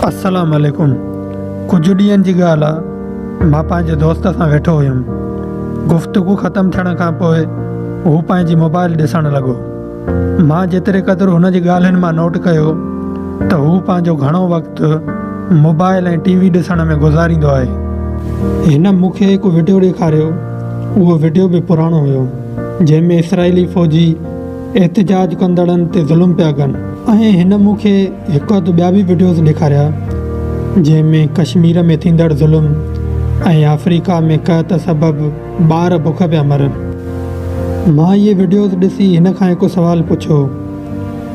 السلام عليڪم ڪجهه ڏينهن جي ڳالهه آ مان پنهنجي دوست سان ويٺو هيم گفتگو ختم ٿيڻ کان پوء هو پنهنجي موبائل ڏسڻ لڳو مان جيتري قدر هن جي ڳالهين مان نوٽ ڪيو ته هو پنهنجو گهڻو وقت موبائل ۽ ٽي وي ڏسڻ ۾ گذاريندو آهي هن مون کي هڪ وڊيو ڏيکاريو اهو وڊيو به پراڻو هيو جنهن ۾ اسرائيلي فوجي احتجاج ڪندڙن تي ظلم پيا ڪن. ۽ هن مون کي هڪ اڌ ٻيا به وڊيوز ڏيکاريا جنهن ۾ ڪشمير ۾ ٿيندڙ ظلم ۽ آفريڪا ۾ قحط سبب ٻار بک پيا مرن. مان اهي وڊيوز ڏسي هن کان هڪ سوال پڇيو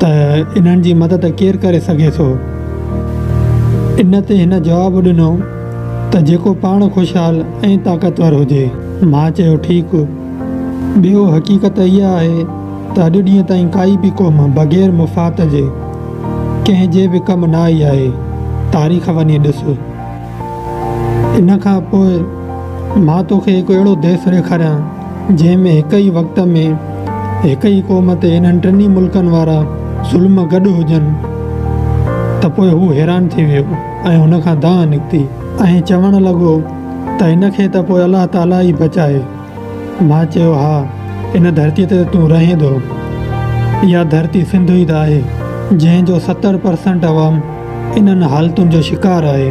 ته انهن جي مدد ڪير ڪري سگهي ٿو؟ ان تي هن جواب ڏنو ته جيڪو پاڻ خوشحال ۽ طاقتور هجي. مان چيو ٺيڪ. ٻيو حقيقت اها آهي ته اڄ ڏينهن تائين ڪائي به قوم بغير مفاد جي ڪنهن جي به ڪم نه آئي آهي. تاريخ وڃي ڏس. ان کان پوء مان توکي هڪ اهڙو ديس ڏيکاريان جنهن ۾ هڪ ئي وقت ۾ هڪ ئي قوم تي انهن ٽنهي ملڪن وارا ظلم گڏ هجن ته پوء هو حيران ٿي ويو ۽ هن کان دانهن نڪتي ۽ چوڻ لڳو. ته هن کي ته پوء الله تعاليٰ ئي بچائي. مان چيو، ها، ان ڌرتيء تي ته تون رهين ٿو. اها ڌرتي سنڌو ئي ته آهي، جنهن جو ستر پرسنٽ عوام انهن حالتن جو شڪار آهي.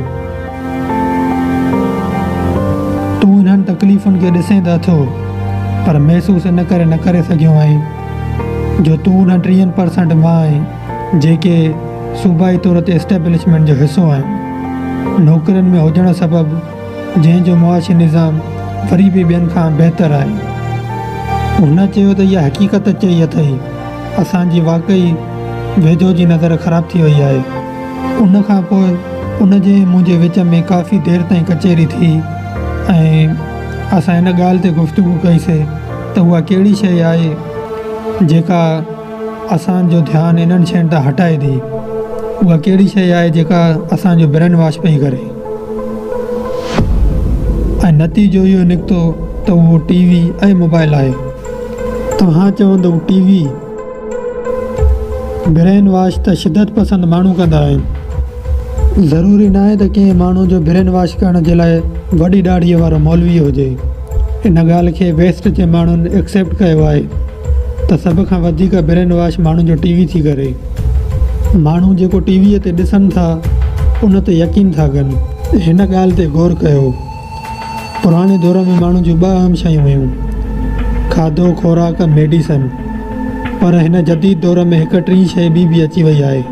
تون انهن تڪليفن کي ڏسين ته اٿو، پر محسوس ان ڪري نه ڪري سگهيو آهين، جو تون انهن ٽيهن پرسنٽ مان آهين. جيڪي صوبائي طور تي اسٽيبلشمينٽ جو حصو آهن، نوڪرين ۾ هجڻ سبب جنهن جو معاشي نظام وري به ٻين کان بهتر آهي. هن چيو ته اها حقيقت چئي اٿئي اسان جي واقعي ويجهو جي نظر خراب ٿي وئي آهي. ان کان پوء ان جي ۽ منهنجي وچ ۾ ڪافي دير تائين ڪچهري ٿي ۽ اسان ان ڳالهه تي گفتگو ڪئي سي ته اها ڪهڙي شيء آهي جيڪا اسان جو ڌيان انهن شين تان هٽائي ٿي. اها ڪهڙي شيء آهي جيڪا اسان جو برين واش پئي ڪري ۽ نتيجو اهو نڪتو ته اهو ٽي وي ۽ موبائل آهي. توهان چوندو ٽي وي برين واش ته شدت پسند ماڻهو ڪندا آهن. ضروري ناهي ته ڪنهن ماڻهو جو برين واش ڪرڻ جي لاء وڏي ڏاڙهي وارو مولوي هجي. ان ڳالهه کي ويسٽ جي ماڻهن ايڪسيپٽ ڪيو آهي. ته سڀ کان وڌيڪ برين واش ماڻهن جو ٽي وي ٿي ڪري. ماڻهو جيڪو ٽي ويء تي ڏسن ٿا ان تي يقين ٿا ڪن. هن ڳالهه تي غور ڪيو. پراڻي دور ۾ ماڻهن جون ٻه اهم شيون هيون، کاڌو خوراڪ ميڊيسن. پر هن جديد دور ۾ هڪ ٽين شيء ٻي به اچي وئي آهي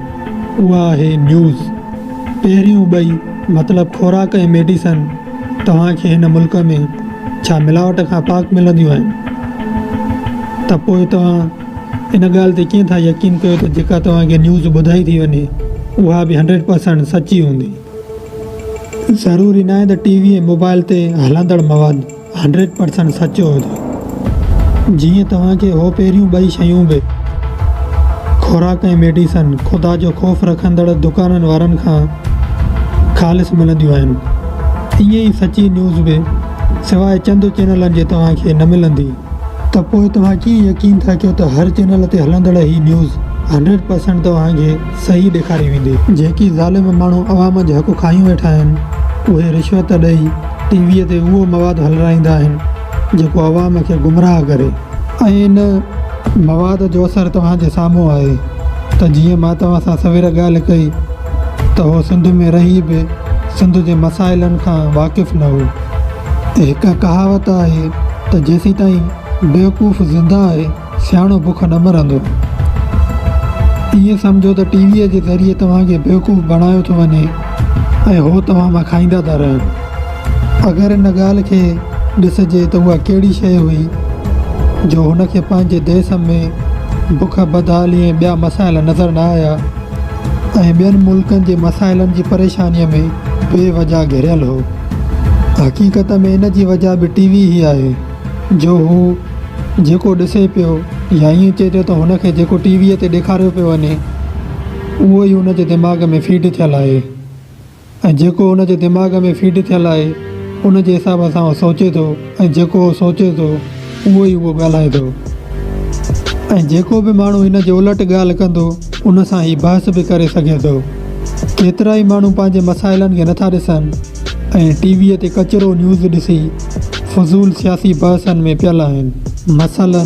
اها آهي نيوز. پهريون ٻئي. مطلب خوراڪ ۽ ميڊيسن توهان کي هن ملڪ ۾ ڇا ملاوٽ کان پاڪ ملنديون آهن ته پوء توهان ان ڳالهه تي ڪيئن ٿا يقين ڪيو ته جيڪا توهان کي نيوز ٻڌائي ٿي وڃي اها به هنڊريڊ پرسنٽ سچي هوندي. ضروري ناهي ته ٽي وي ۽ موبائل تي هلندڙ مواد. هنڊريڊ پرسنٽ سچ چئو ٿا جيئن توهان کي هو پهريون ٻئي شيون به خوراڪ ۽ ميڊيسن خدا جو خوف رکندڙ دڪانن وارن کان خالص ملنديون آهن ائين ئي سچي نيوز به سواء چند چينلن جي توهان کي نه ملندي. ته پوء توهان ڪيئن يقين ٿا ڪيو ته هر چينل تي هلندڙ هي نيوز هنڊريڊ پرسنٽ توهان کي صحيح ڏيکاري ويندي. جيڪي ظالم ماڻهو عوام جا حق کاهيون ويٺا آهن اهي رشوت ڏئي. ٽي ويء تي اهو مواد هلرائيندا آهن جيڪو عوام کي گمراهه ڪري ۽ ان مواد جو اثر توهان جي سامهون آهي ته جيئن مان توهان سان سوير ڳالهه ڪئي ته هو سنڌ ۾ رهي به سنڌ جي مسائلن کان واقف نه هو. هڪ ڪهاوت آهي ته جيسيتائين بيوقوف زنده آهي. سياڻو بک نه مرندو. ائين سمجهو ته ٽي ويء جي ذريعي توهان کي بيوقوف بڻايو ٿو وڃي ۽ هو توهان مان کائيندا ٿا رهن. اگر ان ڳالهه کي ڏسجي ته اها ڪهڙي شيء هئي جو هن کي پنهنجي ديس ۾ بک، بدحالي ۽ ٻيا مسائل نظر نه آيا ۽ ٻين ملڪن جي مسائلن جي پريشانيء ۾ بي وجهه گهريل هو. حقيقت ۾ ان جي وجهه به ٽي وي ئي آهي جو هو، جيڪو ڏسي پيو يا ائين چئجو ته هن کي جيڪو ٽي ويء تي ڏيکاريو پيو وڃي اهو ئي هن جي دماغ ۾ فيڊ ٿيل آهي ۽ جيڪو هن جي دماغ ۾ فيڊ ٿيل آهي ان جي حساب سان هو سوچي ٿو ۽ جيڪو هو سوچي ٿو اهو ئي هو ڳالهائي ٿو ۽ جيڪو به ماڻهو هن جي الٽ ڳالهه ڪندو ان سان هي بحث به ڪري سگهي ٿو ڪيترائي ماڻهو پنهنجي مسائلن کي نٿا ڏسن ۽ ٽي ويء تي ڪچرو نيوز ڏسي فضول سياسي بحثن ۾ پيل آهن. مثلاً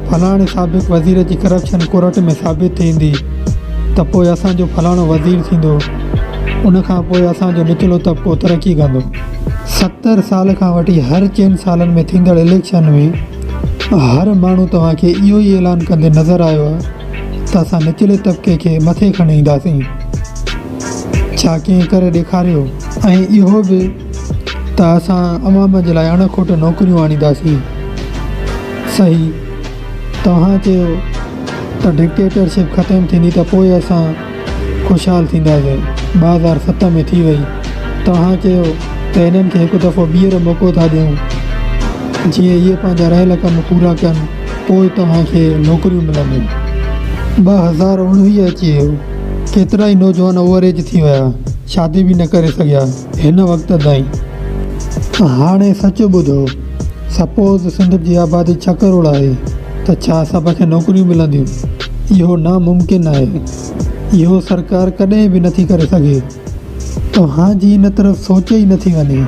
فلاڻي سابق وزير جي ڪرپشن ڪورٽ ۾ ثابت ٿيندي ته پوء اسان جو فلاڻو وزير ٿيندو، ان کان پوء اسان جو نچلو طبقو ترقي ڪندو. ستر سال کان وٺي هر چئن سالن ۾ ٿيندڙ اليڪشن ۾ هر ماڻهو توهان کي اهو ئي اعلان ڪندي نظر آيو آهي ته اسان نچلي طبقي کي مٿي کڻي اينداسين. ڇا ڪنهن ڪري ڏيکاريو ۽ اهو به ته اسان عوام جي لاء اڻ کوٽ نوڪريون آڻينداسين صحيح توهان چيو ته ڊڪٽيٽر شپ ختم ٿيندي ته پوء اسان خوشحال ٿينداسين ٻه هزار ست ۾ ٿي وئي توهان چيو ته هنن کي هڪ دفعو ٻيهر موقعو ٿا ڏيون جيئن اهي پنهنجا رهيل ڪم پورا ڪن پوء توهان کي نوڪريون ملنديون ٻه هزار اوڻويهه اچي ويو ڪيترائي نوجوان اوور ايج ٿي ويا، شادي به نه ڪري سگهيا هن وقت تائين. هاڻي سچ ٻڌو، سپوز سنڌ جي آبادي ڇهه ڪروڙ آهي ته ڇا سڀ کي نوڪريون ملنديون؟ اهو ناممڪن آهي. اهو سرڪار ڪڏهن به نٿي ڪري سگهي. توهان جي ان طرف سوچ ئي نٿي وڃي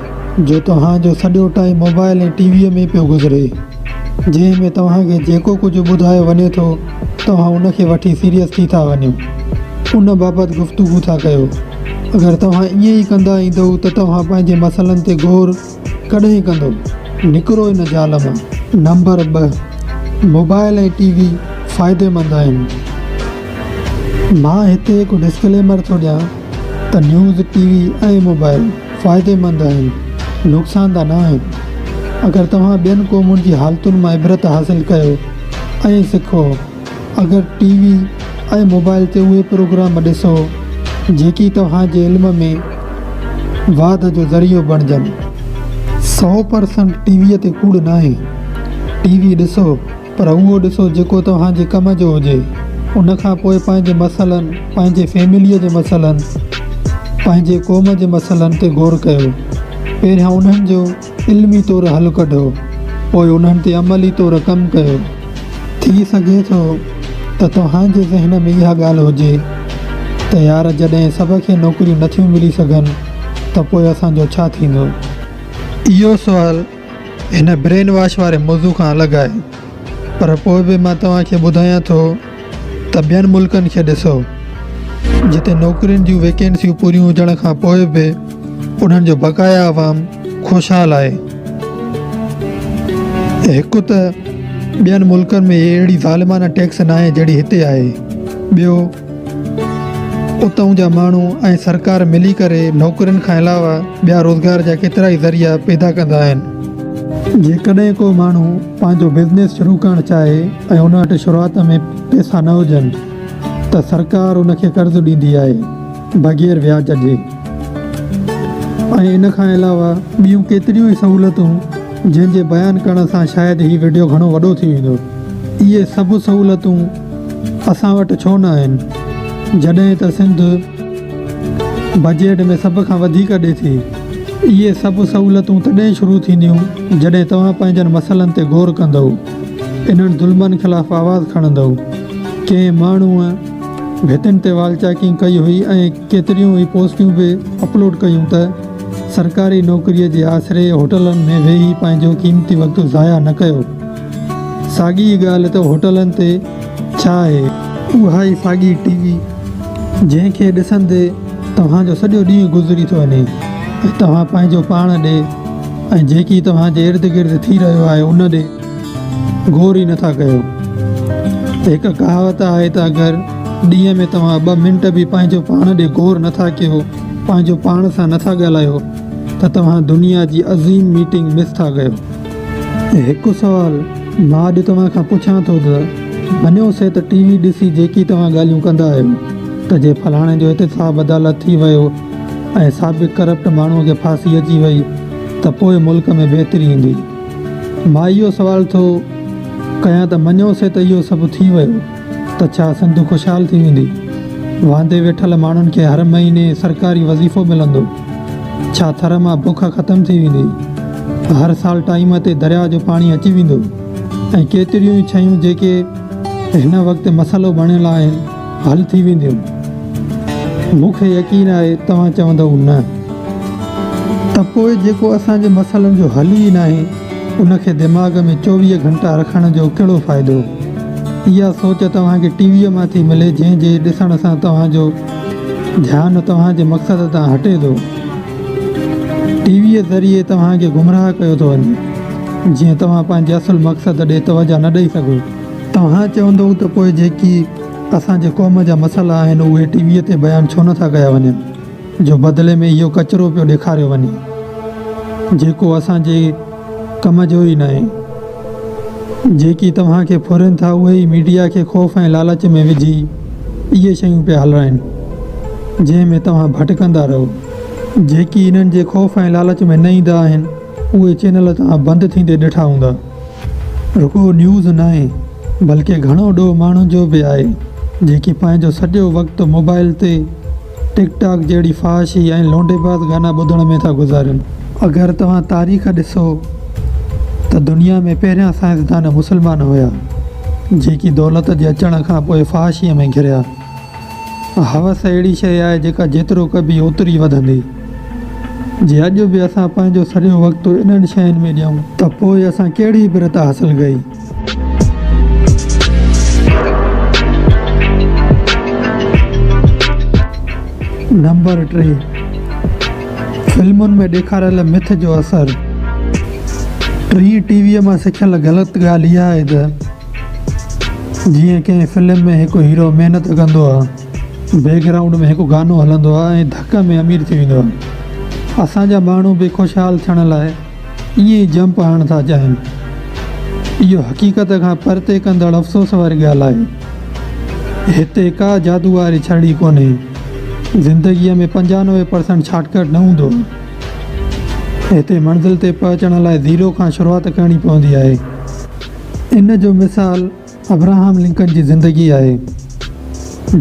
جو توهان جو سڄو ٽائيم موبائل ۽ ٽي ويء ۾ پيو گذري جنهن ۾ توهان کي جيڪو ڪجهه ٻڌايو وڃي ٿو توهان ان کي وٺي سيريس ٿي ٿا وڃو ان بابت گفتگو ٿا ڪيو اگر توهان ائين ئي ڪندا ايندئو ته توهان پنهنجي مسئلن تي غور ڪڏهن ڪندو؟ نڪرو ان جال مان. نمبر ٻه، موبائل ۽ ٽي وي فائديمند آهن. مان هتي هڪ ڊسڪليمر ٿو ڏيان ته نيوز، ٽي وي ۽ موبائل فائديمند آهن، نقصان ده ناهن. اگر توهان ٻين قومن جي حالتن مان عبرت حاصل ڪيو ۽ سکو اگر ٽي وي ۽ موبائل تي اهي پروگرام ڏسو جيڪي توهان جي علم ۾ واڌ جو ذريعو بڻجن. سئو پر سنٽ ٽي وي تي ڪوڙ ناهي. ٽي وي ڏسو پر اهو ڏسو جيڪو توهان جي ڪم جو هجي. ان کان پوء پنهنجي مسئلن، پنهنجي فيمليء جي مسئلن، پنهنجي قوم جي مسئلن تي غور ڪيو. پهريان انهن جو. علمي طور حل ڪڍو پوء انهن تي عملي طور ڪم ڪيو. ٿي سگهي ٿو ته توهان جي ذهن ۾ اها ڳالهه هجي ته يار جڏهن سڀ کي نوڪريون نٿيون ملي سگهن ته پوء اسان جو ڇا ٿيندو؟ اهو سوال هن برين واش واري موضوع کان الڳ آهي پر پوء به مان توهان کي ٻڌايان ٿو ته ٻين ملڪن کي ڏسو جتي نوڪرين جون ويڪنسيون پوريون هجڻ کان پوء به انهن جو بقايا عوام خوشحال آهي. هڪ ته ٻين ملڪن ۾ اهڙي ظالمانه ٽيڪس ناهي جهڙي هتي آهي ٻيو اتئون جا ماڻهو ۽ سرڪار ملي ڪري نوڪرين کان علاوه ٻيا روزگار جا ڪيترائي ذريعا پيدا ڪندا آهن. جيڪڏهن ڪو ماڻهو پنهنجو بزنيس شروع ڪرڻ چاهي ۽ ان وٽ شروعات ۾ پئسا نه هجن ته سرڪار ان کي قرض ڏيندي آهي بغير وياج جي ۽ ان کان علاوه ٻيون ڪيتريون ئي سهولتون جنهن جي بيان ڪرڻ سان شايد هي وڊيو گهڻو وڏو ٿي ويندو اهي سڀ سهولتون اسان وٽ ڇو نه آهن جڏهن ته سنڌ بجيٽ ۾ سڀ کان وڌيڪ ڏي ٿي. اهي سڀ سهولتون تڏهن شروع ٿينديون جڏهن توهان پنهنجن مسئلن تي غور ڪندؤ، انهن ظلمن خلاف آواز کڻندؤ. ڪنهن ماڻهوء ڀتين تي وال چاڪنگ ڪئي هئي ۽ ڪيتريون ئي پوسٽيون به اپلوڊ ڪيون ته سرڪاري نوڪريء جي آسري هوٽلن ۾ ويهي پنهنجو قيمتي وقت ضايع نه ڪيو. ساڳي ئي ڳالهه ته هوٽلن تي ڇا آهي اها ئي ساڳي ٽي وي جنهن کي ڏسندي توهان جو سڄو ڏينهن گذري ٿو وڃي ۽ توهان پنهنجو پاڻ ڏي ۽ جيڪي توهان جي ارد گرد ٿي رهيو آهي ان ڏي غور ئي نٿا ڪيو هڪ ڪهاوت آهي ته اگر ڏينهن ۾ توهان ٻه منٽ به پنهنجو پاڻ ڏي غور نٿا ڪيو پنهنجو پاڻ سان نٿا ڳالهايو ته توهان دنيا جي عظيم ميٽنگ مس ٿا ڪيو هڪ سوال مان اڄ توهان کان پڇان ٿو ته مڃيو سي ته ٽي وي ڏسي جيڪي توهان ڳالهيون ڪندا آهيو ته جي فلاڻي جو احتساب عدالت ٿي ويو ۽ سابق ڪرپٽ ماڻهوء کي ڦاسي اچي وئي ته پوء ملڪ ۾ بهتري ايندي؟ مان اهو سوال ٿو ڪيان ته مڃيو سي ته اهو سڀ ٿي ويو. ته ڇا سنڌ خوشحال ٿي ويندي؟ واندي ويٺل ماڻهن کي هر مهيني سرڪاري وظيفو ملندو؟ ڇا ٿر مان بک ختم ٿي ويندي؟ هر سال ٽائيم تي درياهه جو پاڻي اچي ويندو؟ ۽ ڪيتريون ئي شيون جيڪي هن وقت مسئلو بڻيل آهن حل ٿي وينديون؟ مون کي يقين آهي توهان چوندئو نه. ته پوء جيڪو اسان جي مسئلن جو حل ئي ناهي. ان کي دماغ ۾ چوويهه گهنٽا رکڻ جو ڪهڙو فائدو؟ اها سوچ توهان کي ٽي ويء مان ٿي ملي جنهن جي ڏسڻ سان توهان جو ڌيان توهان جي مقصد تان هٽي ٿو. ٽي ويء ذريعي توهان کي گمراهه ڪيو ٿو وڃي جيئن توهان پنهنجي اصل مقصد ڏي توجهه نه ڏئي سگهو. توهان چوندئو ته پوء جيڪي اسان جي قوم جا مسئلا آهن اهي ٽي ويء تي بيان ڇو نه ٿا ڪيا وڃن؟ جو بدلي ۾ اهو ڪچرو پيو ڏيکاريو وڃي جيڪو اسان جي ڪم جو ئي ناهي. جيڪي توهان کي ڦرين ٿا اهي ئي ميڊيا کي خوف ۽ لالچ ۾ وجهي اهي شيون پيا هلرائين جنهن ۾ توهان ڀٽڪندا رهو. جيڪي انهن جي خوف ۽ لالچ ۾ نه ايندا آهن اهي چينل توهان بند ٿيندي ڏٺا هوندا. رڳو نيوز ناهي بلڪه گهڻو ڏوهه ماڻهن جو به آهي جيڪي پنهنجو سڄو وقت موبائل تي ٽڪ ٽاڪ جهڙي فحاشي ۽ لونڊيباز گانا ٻڌڻ ۾ ٿا گذارين. اگر توهان تاريخ ڏسو ته دنيا ۾ پهريان سائنسدان مسلمان هيا جيڪي دولت جي اچڻ کان پوء فحاشي ۾ گهريا. هوس اهڙي شيء آهي جيڪا جيترو ڪبي اوتري وڌندي. جي اڄ به اسان پنهنجو سڄو وقت انهن شين ۾ ڏيون ته پوء اسان ڪهڙي عبرت حاصل ڪئي؟ نمبر ٽي، فلمن ۾ ڏيکاريل مٿ جو اثر، ٽين ٽي ويء مان سکيل غلط ڳالهه اها آهي ته، جيئن ڪنهن فلم ۾ هڪ هيرو محنت ڪندو آهي، بيڪ گرائونڊ ۾ هڪ گانو هلندو آهي ۽ ڌڪ ۾ امير ٿي ويندو آهي. اسان جا ماڻهو به خوشحال ٿيڻ لاء ائين ئي جمپ هڻڻ ٿا چاهين. اهو حقيقت کان پرتي ڪندڙ افسوس واري ڳالهه آهي. هتي ڪا جادو واري ڇڙي ڪونهي. زندگيء ۾ پنجانوي پرسنٽ شارٽ ڪٽ نه هوندو آهي. هتي منزل تي پهچڻ لاء زيرو کان شروعات ڪرڻي پوندي آهي. ان جو مثال ابراهام لنڪن جي زندگي آهي،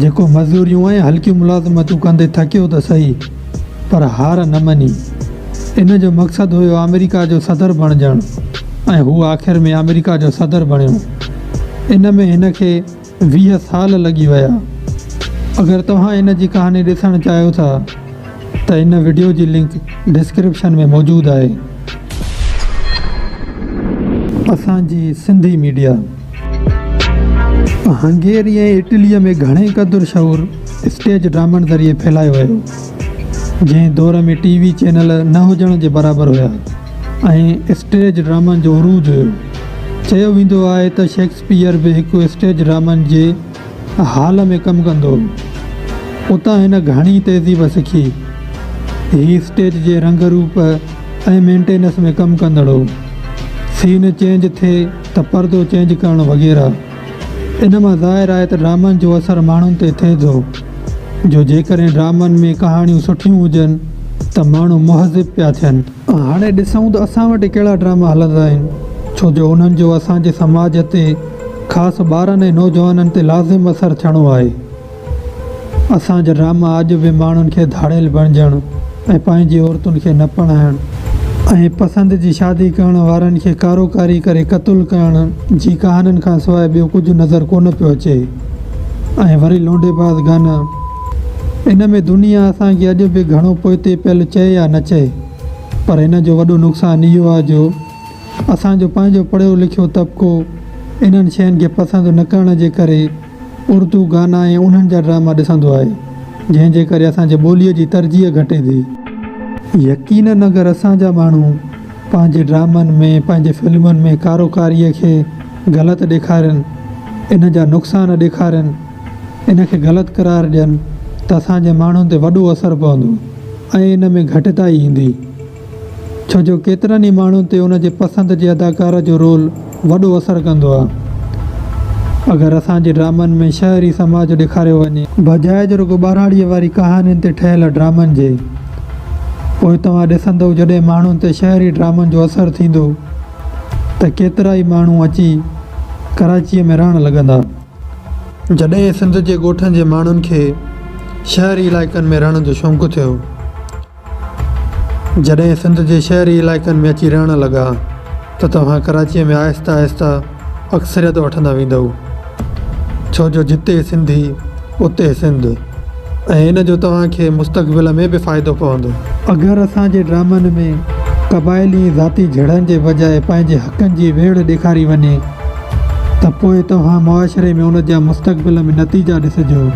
جيڪو مزوريون ۽ هلڪيون ملازمتون ڪندي ٿڪيو ته سهي، پر هار نه مڃي. ان جو مقصد هيو آمريڪا جو صدر بڻجڻ ۽ هو آخر ۾ آمريڪا جو صدر بڻيو. ان ۾ هن کي. ويهه سال لڳي ويا. اگر توهان هن جي ڪهاڻي ڏسڻ چاهيو ٿا ته هن وڊيو جي لنڪ ڊسڪرپشن ۾ موجود آهي. اسان جي سنڌي ميڊيا هنگيري ۽ اٽليء ۾ گهڻي قدر شعور اسٽيج ڊرامن ذريعي ڦهلايو ويو، جنهن دور ۾ ٽي وي چينل نه هجڻ جي برابر هيا ۽ اسٽيج ڊرامن جو عروج هيو. چيو ويندو آهي ته شيڪسپيئر شيڪسپيئر به هڪ اسٽيج ڊرامن جي هال ۾ ڪم ڪندو هو. اتان هن گهڻي تهذيب سکي. هي اسٽيج جي رنگ روپ ۽ مينٽينس ۾ ڪم ڪندڙ هو. سين چينج ٿئي ته پردو چينج ڪرڻ وغيره. ان مان ظاهر آهي ته ڊرامن جو اثر ماڻهن تي ٿئي ٿو جو جيڪڏهن ڊرامن ۾ ڪهاڻيون سٺيون هجن ته ماڻهو مهذب پيا ٿين. هاڻي ڏسون ته اسان وٽ ڪهڙا ڊراما هلندا آهن، ڇو جو انهن جو اسان جي سماج تي خاص ٻارن ۽ نوجوانن تي لازم اثر ٿيڻو آهي. اسان جا ڊراما اڄ به ماڻهن کي ڌاڙيل بڻجڻ ۽ پنهنجي عورتن کي نه پرڻائڻ ۽ پسند جي شادي ڪرڻ وارن کي ڪارو ڪاري ڪري قتل ڪرڻ جي ڪهاڻين کان سواء ٻيو ڪجهه نظر ڪونه پيو اچي ۽ وري لونڊي باز گانا. ان ۾ دنيا اسان کي اڄ به گهڻو پوئتي پيل چئي يا نه چئي پر هن جو وڏو نقصان اهو آهي جو اسان جو پنهنجو پڙهيو لکيو طبقو انهن شين کي پسند نه ڪرڻ جي ڪري اردو گانا ۽ انهن جا ڊراما ڏسندو آهي جنهن جي ڪري اسان جي ٻولي جي ترجيح گهٽي ٿي. يقينن اگر اسان جا ماڻهو پنهنجي ڊرامن ۾ پنهنجي فلمن ۾ ڪارو ڪاري کي غلط ڏيکارين انهن جا نقصان ڏيکارين ان کي غلط قرار ڏين ته اسان جي ماڻهن تي وڏو اثر پوندو ۽ ان ۾ گهٽتائي ايندي ڇو جو ڪيترن ئي ماڻهن تي ان جي پسند جي اداڪاره جو رول وڏو اثر ڪندو آهي اگر اسان جي ڊرامن ۾ شهري سماج ڏيکاريو وڃي بجاء جو رڳو ٻهراڙيء واري ڪهاڻين تي ٺهيل ڊرامن جي پوء توهان ڏسندئو جڏهن ماڻهن تي شهري ڊرامن جو اثر ٿيندو ته ڪيترائي ماڻهو اچي ڪراچيء ۾ رهڻ لڳندا. جڏهن سنڌ جي ڳوٺن جي ماڻهن کي شهري علائقن ۾ رهڻ جو شونق ٿيو، جڏهن سنڌ جي شهري علائقن ۾ اچي رهڻ لڳا ته توهان ڪراچيء ۾ آهستي آهستي اڪثريت وٺندا ويندؤ، ڇو جو جتي سنڌي اتي سنڌ. ۽ ان جو توهان کي مستقبل ۾ به فائدو پوندو. اگر اسان جي ڊرامن ۾ قبائلي ۽ ذاتي جھيڙن جي بجاء پنهنجي حقن جي ويڙهه ڏيکاري وڃي ته پوء توهان معاشري ۾ ان جا مستقبل ۾ نتيجا ڏسجو.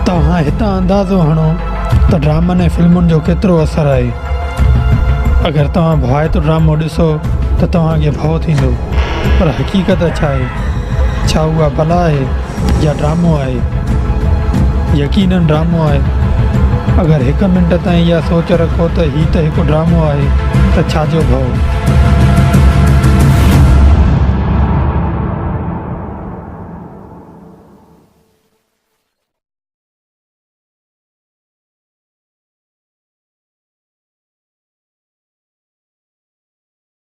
توهان هتان اندازو هڻو ته ڊرامن ۽ فلمن جو ڪيترو اثر آهي. اگر توهان ڀوائتو ڊرامو ڏسو ته توهان کي ڀؤ ٿيندو پر حقيقت ڇا آهي؟ ڇا اها بلا آهي يا ڊرامو آهي؟ يقينن ڊرامو آهي. اگر هڪ منٽ تائين اها سوچ رکو ته هي ته هڪ ڊرامو آهي ته ڇا جو ڀئو.